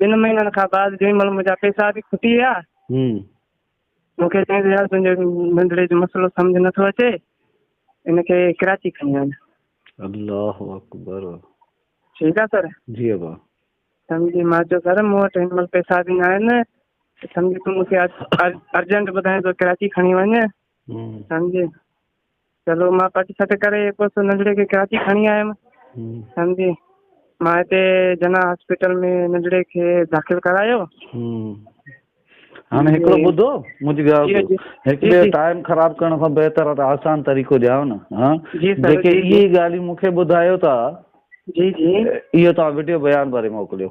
ٻن مهينن کان بعد جنهن مهل منهنجا پيسا به کٽي ويا مون کي چيائين يار تنهنجي ننڍڙي جو مسئلو سمجھ نٿو اچي ان کي ڪراچي کڻي وڃ الله اڪبر ٺيڪ آ سر جي ابا سمجھي مان چيو سر مون وٽ هن مهل پيسا به نه آهن سمجھي تون مون کي ارجنٽ ٻڌائين تو ڪراچي کڻي وڃ سمجھي چلو مان پٽ سٽ ڪري پوء ننڍڙي کي ڪراچي کڻي آيم سمجھي مان هتي جنا هاسپيٽل ۾ ننڍڙي کي داخل ڪرايو هاڻي هڪڙو ٻڌو منهنجي ڳالهه هڪڙي ٽائيم خراب ڪرڻ کان بهتر آهي ته آسان طريقو ڄايو نه ها جيڪي اهي ڳالهيون مونکي ٻڌايو ٿا جي جي اهو توهان وڊيو بيان ڀري موڪليو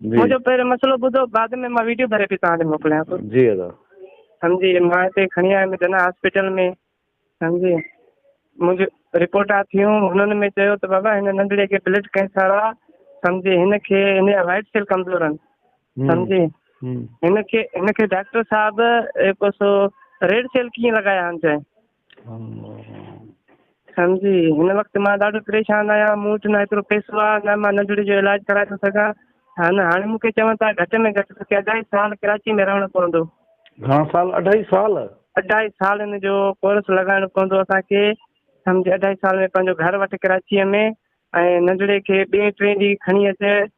منهنجو پهريون مسئلو ٻڌو بعد ۾ مان ويڊيو ڀري پي توهان تي موڪليان ٿو جي ادا سمجهي مان هتي کڻي آيم جنا هاسپيٽل ۾ سمجهي منهنجي رپورٽا ٿيون هنن ۾ چيو ته بابا هن ننڍڙي کي بلڊ ڪينسر آ سمجهي هن کي هن جا وائٽ سيل ڪمزور آهن سمجهي هن کي هن کي ڊاڪٽر صاحب هڪ سو ريڊ سيل ڪيئن لڳايا آهن چاهي سائين جي هن وقت مان ڏاڍو پريشان آهيان مون وٽ نه ايترو پئسو آهي نه مان ننڍڙي جو علاج ڪرائي ٿو سگهان ها نه هاڻي مون کي چون ٿا گهٽ ۾ گهٽ توکي اڍائي سال ڪراچي ۾ رهڻو پوندو گهڻا سال اڍائي سال اڍائي سال ان جو ڪورس لڳائڻو پوندو اسان کي سمجهه اڍائي سال ۾ پنهنجو گهر وٺ ڪراچي ۾ ۽ ننڍڙي کي ٻئي ٽئين ڏينهن کڻي اچ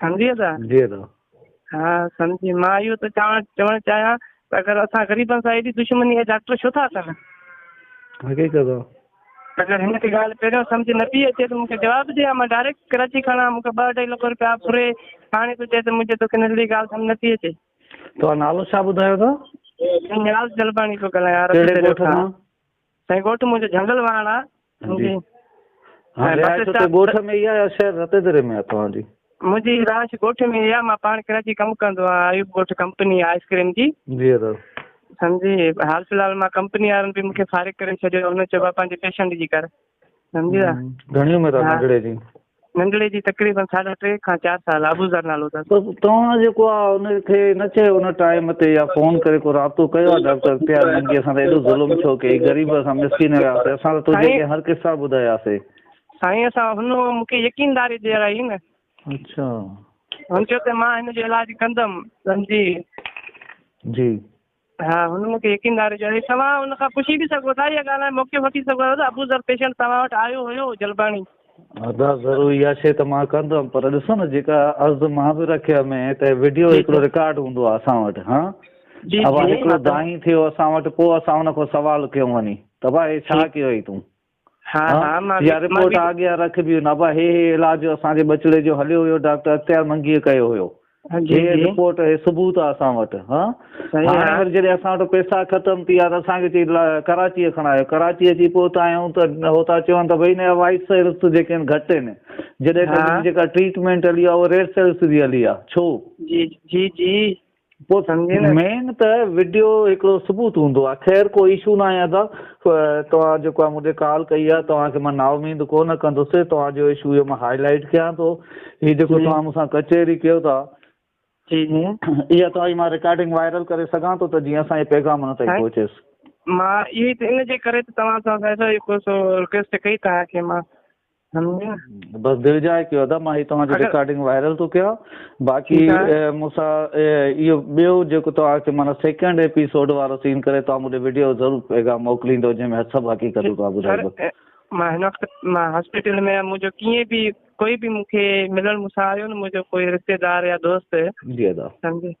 سمجهيء ٿا؟ سمجهيء ٿا. ها سمجهي. مان اهو ٿو چوان چوڻ چاهيان ته اگر اسان غريبن سان ايڏي دشمني اهي ڊاڪٽر ڇو ٿا ڪن؟ حقيقت آ. اگر هن کي ڳالهه پهريون سمجهه نه پئي اچي ته مون کي جواب ڏي ها مان ڊائريڪٽ ڪراچي کڻان مون کي ٻه اڍائي لک روپيا ڦري هاڻي ٿو چئي ته منهنجي توکي ننڍڙي ڳالهه سمجهه نه پئي اچي. توهان نالو ڇا ٻڌايو ٿا؟ نياز جلباڻي ٿو ڳالهايان. ڪهڙي ڳوٺ کان؟ سائين ڳوٺ منهنجو جهنگل واهڻ آ جي هاڻ رهائش اتي ڳوٺ ۾ ئي آ يا شهر رتي دڙي ۾ آ توهان جي؟ منهنجي رهائش ڳوٺ ۾ ئي آ مان پاڻ ڪراچي ڪم ڪندو آ ايوب ڳوٺ ڪمپني آ آئس ڪريم جي جي ادا سمجهي حال في الحال مان ڪمپني وارن به مونکي فارغ ڪري ڇڏيو هن چيو آ پنهنجي پيشنٽ جي ڪر سمجهي ادا گهڻي عمر آ ننڍڙي جي؟ ننگلي جي تقريبن ساڍا ٽي کان چار سال ابوذر نالو اٿس. بس توهان جيڪو آ ان کي نه چيو ان ٽائيم تي يا فون ڪري ڪو رابطو ڪيو آ ڊاڪٽر پيار ننگي اسان تي ايڏو ظلم ڇو ڪيئي غريب اسان مسڪين هياسي اسان ته توجي اڳيان هر قصا ٻڌاياسي. سائين اسان هن مون کي يقين داري ڏيرائي نه. اڇا. هن چيو ته مان هن جو علاج ڪندم سمجهي. جي. ها هن مون کي يقين ڏياري ڇڏيو. توهان هن کان پڇي به سگهو ٿا اها ڳالهه ۽ موقعو وٺي سگهو ٿا ته ابو ذر پيشنٽ توهان وٽ آيو هيو جلباڻي. ادا ضرور اها شي ته مان ڪندم پر ڏسو نه جيڪا عرض مان به رکي ۾ ته وڊيو هڪڙو رڪارڊ هوندو آ اسان وٽ ها جي جي هڪڙو دائين ٿيو اسان وٽ پو اسان ان کان سوال ڪيون وڃي ته ڀائي ڇا ڪيو هئي تون ھا اھا رپورٽ آڳيان رک بي ھن ابا ھي ھي علاج جو اسان جي ٻچڙي جو ھليو ويو ڊاڪٽر اختيار منگيء ڪيو ھيو ھي رپورٽ ھي ثبوت آ اسان وٽ ھا ھاڻي وري جڏھن اسان وٽ پيسا ختم ٿي ويا ته اسان کي چئي ڪراچيء کڻايو ڪراچي اچي پھتا آھيون ته ھو ٿا چون ته بھي ھن جا وائٽ سيلس جيڪي آھن گھٽ ھين جڏھن ته ھن جي جيڪا ٽريٽمينٽ ھلي آ اھا ريڊ سيلس جي ھلي آ ڇو جي جي جي پوء سمجهي نه مين ته وڊيو هڪڙو ثبوت هوندو آ خير ڪو ايشو ناهي ادا توهان جيڪو آ مونکي ڪال ڪئي آ توهان کي مان نااميد ڪونه ڪندس توهان جو ايشو اهو مان هائي لائيٽ ڪيان ٿو هي جيڪو توهان مون سان ڪچهري ڪيو ٿا جي جي اها توهان جي مان ريڪارڊنگ وائرل ڪري سگهان ٿو ته جيئن اسان جي پيغام نه تائين پهچيس مان اهي ان جي ڪري ته توهان سان سائين صاحب رڪويسٽ ڪئي توهان کي مان سمجهيا بس دل جاء ڪيو ادا مان هي توهان جي ريڪارڊنگ وائرل ٿو ڪيان باقي مون سان اهو ٻيو جيڪو توهان کي مانا سيڪنڊ ايپيسوڊ وارو سين ڪري توهان مون ويڊيو ضرور پيغام موڪليندو جنهن ۾ سڀ حقيقت توهان ٻڌائيندو مان هن وقت مان هاسپيٽل ۾ آهيان منهنجو ڪيئن به ڪوئي به مون کي ملڻ مون سان آيو نه منهنجو ڪوئي رشتيدار يا دوست جي ادا سمجهي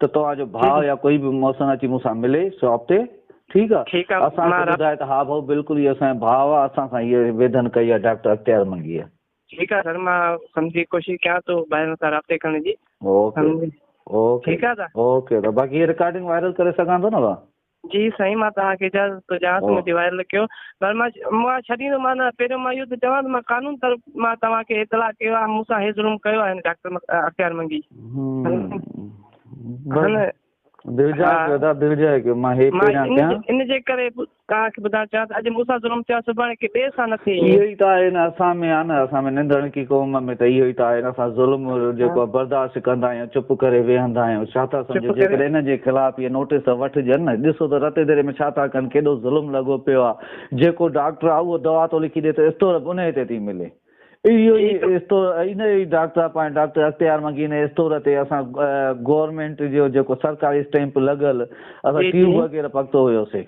ته توهان جو ڀاء يا ڪوئي به محسن اچي مون سان ملي شاپ تي ٺيڪ آ اسان کي ٻڌائي ته ها ڀائو بلڪل هي اسان جو ڀاء آ اسان سان هيء ويڌن ڪئي آ ڊاڪٽر اختيار منگيء. ٺيڪ آ سر مان سمجهي ڪوشش ڪيان ٿو ڀائرن سان رابطي ڪرڻ جي. اوڪي اوڪي ٺيڪ آ سر اوڪي باقي هيء رڪارڊنگ وائرل ڪري سگهان ٿو نه ڀاء. جي سائين مان توهان کي اجازت ٿو ڏيان ته مونکي وائرل ڪيو پر مان مان ڇڏيندو مان نه پهريون مان اهو ٿو چوان ته مان قانون طرف مان توهان کي اطلاع ڪيو آهي مون سان هي ظلم ڪيو آهي هن ڊاڪٽر اختيار منگي ان جي ڪري توهان کي ٻڌائڻ چاهيان ته اڄ مون سان ظلم ٿيو آهي سڀاڻي ڪي ٻئي سان نه ٿئي اهو ئي ته آهي نه اسان ۾ آهي نه اسان ۾ ننڌڻڪي قوم ۾ ته اهو ئي ته آهي نه اسان ظلم جيڪو برداشت ڪندا آهيون چپ ڪري ويهندا آهيون ڇا ٿا سمجهو جيڪڏهن انهن جي خلاف اهي نوٽيس وٺجن نه ڏسو ته رتي ديري ۾ ڇا ٿا ڪن ڪيڏو ظلم لڳو پيو آهي جيڪو ڊاڪٽر آهي اهو دوا ٿو لکي ڏي ته اسٽور انهي تي ٿي ملي اهو ئي اسٽور انهي ئي ڊاڪٽر پاڻ ڊاڪٽر اختيار منگي انهي اسٽور تي اسان گورنمينٽ جو جيڪو سرڪاري اسٽيمپ لڳل اسان ٽيوب وغيره پڪتو هيوسي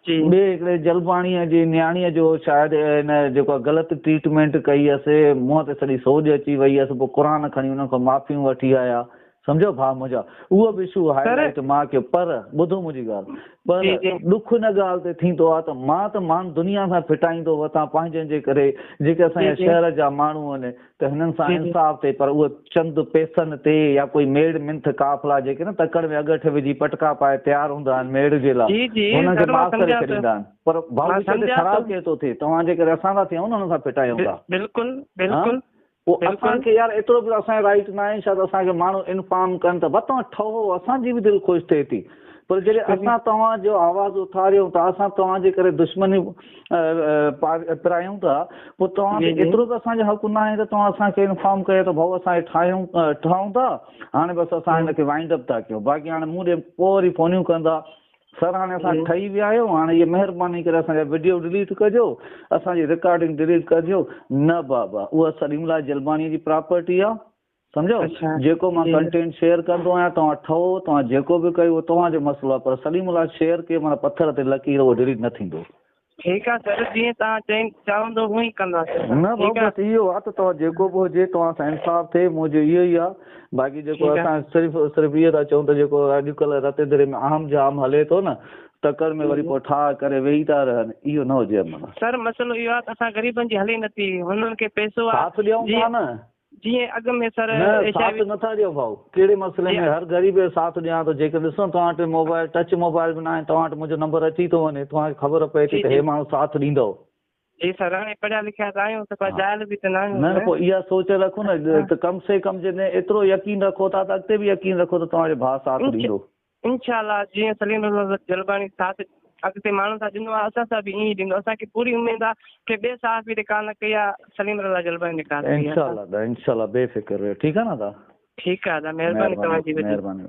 ٻئي هڪڙي جلباڻيء جي نياڻيء جو شايد هن جيڪا غلط ٽريٽمينٽ ڪئي هيس، منهن تي سڄي سوڄ اچي وئي هيس، پوء قرآن کڻي انهن کان معافيون وٺي آيا، سمجهيو ڀاء منهنجا، اهو به شو هائي لائيٽ مان ڪيو، پر ٻڌو منهنجي ڳالهه، پر ڏک ان ڳالهه تي ٿيندو آهي ته مان ته مان دنيا سان ڦٽائيندو وتان پنهنجن جي ڪري، جيڪي اسان جا شهر جا ماڻهو آهن. ته هنن سان انصاف ٿئي پر اهي چند پيسن تي يا ڪوئي ميڙ منٿ قافلا جيڪي نه تڪڙ ۾ اڳٺ وجهي پٽڪا پائي تيار هوندا آهن ميڙ جي لاء هنن کي معاف ڪري ڇڏيندا آهن پر ڀائو جي ڪري خراب ڪير ٿو ٿئي توهان جي ڪري اسان ٿا ٿيون هنن سان ڦٽايون ٿا بلڪل بلڪل پوء اسان کي يار ايترو به اسان جو رائيٽ ناهي ڇا ته اسان کي ماڻهو انفام ڪن ته بتان ٺهو اسان جي به دل خوش ٿئي ٿي پر جڏهن اسان توهان جو آواز اٿاريون ٿا اسان توهان جي ڪري دشمني پرايون ٿا پوء توهان کي ايترو ته اسان جو حق نه آهي ته توهان اسان کي انفارم ڪيو ته ڀائو اسان ٺاهيون ٺاهون ٿا هاڻي بس اسان هن کي وائنڊ اپ ٿا ڪيون باقي هاڻي مون ڏي پوء وري فونيون ڪندا سر هاڻي اسان ٺهي ويا آهيون هاڻي هي مهرباني ڪري اسان جا ويڊيو ڊليٽ ڪجو اسان جي رڪارڊنگ ڊليٽ ڪجو نه بابا اها سليم الله جلباڻي جي پراپرٽي آهي سمجهيو جيڪو مان ڪنٽينٽ شيئر ڪندو آهيان توهان ٺهو توهان جيڪو به ڪيو توهان جو مسئلو آهي پر سليم الله شيئر ڪيو معنيٰ پٿر تي لڪير اهو ڊيليٽ نه ٿيندو ٺيڪ آهي سر جيئن تان چين چاهندو هو ئي ڪنداسي نه بابا بس اهو آ ته توهان جيڪو به هجي توهان سان انصاف ٿئي منهنجو اهو ئي آ باقي جيڪو اسان صرف صرف اهو ٿا چون ته جيڪو اڄڪلهه رتي دري ۾ اهم جام هلي ٿو نه تڪڙ ۾ وري پوء ٺاهه ڪري ويهي ٿا رهن اهو نه هجي امن سر مسئلو اهو آ ته اسان غريبن جي هلي نٿي هنن کي پئسو آ ڏيون ٿا نه جيئن اڳ ۾ سر نه ايش ساٿ عيوض نٿا ڏيو ڀائو ڪهڙي مسئلي ۾ جيئن هر غريب جو ساٿ ڏيان ٿو جيڪڏهن ڏسو توهان وٽ موبائل ٽچ موبائل به ناهن توهان وٽ منهنجو نمبر اچي ٿو وڃي توهان کي خبر پئي ٿي جي ته جي هي ماڻهو ساٿ ڏيندو جي سر هاڻي پڙهيا لکيا ته آهيون ته پر ها جاهل به ته نه آهيون نه نه سر پوء اها سوچ رکو نه اچ ته ها ته ڪم سي ڪم جيڪڏهن ايترو يقين رکو ٿا ته اڳتي به يقين رکو ته توهان جو ڀاء ساٿ اچ ڏيندو انشاء الله جيئن سليم احمد جلباڻي ساٿ اڳتي ماڻهن سان ڏنو آهي اسان سان به ائين ئي ڏيندو اسان کي پوري اميد آهي ڪنهن ٻئي صحافي نڪاح نه ڪئي آهي سليم رضا جلباڻي نڪاح ڪئي آهي انشاء الله ادا انشاء الله بي فڪر رهيو ٺيڪ آهي نه ادا ٺيڪ آهي ادا مهرباني توهان جي وڏي مهرباني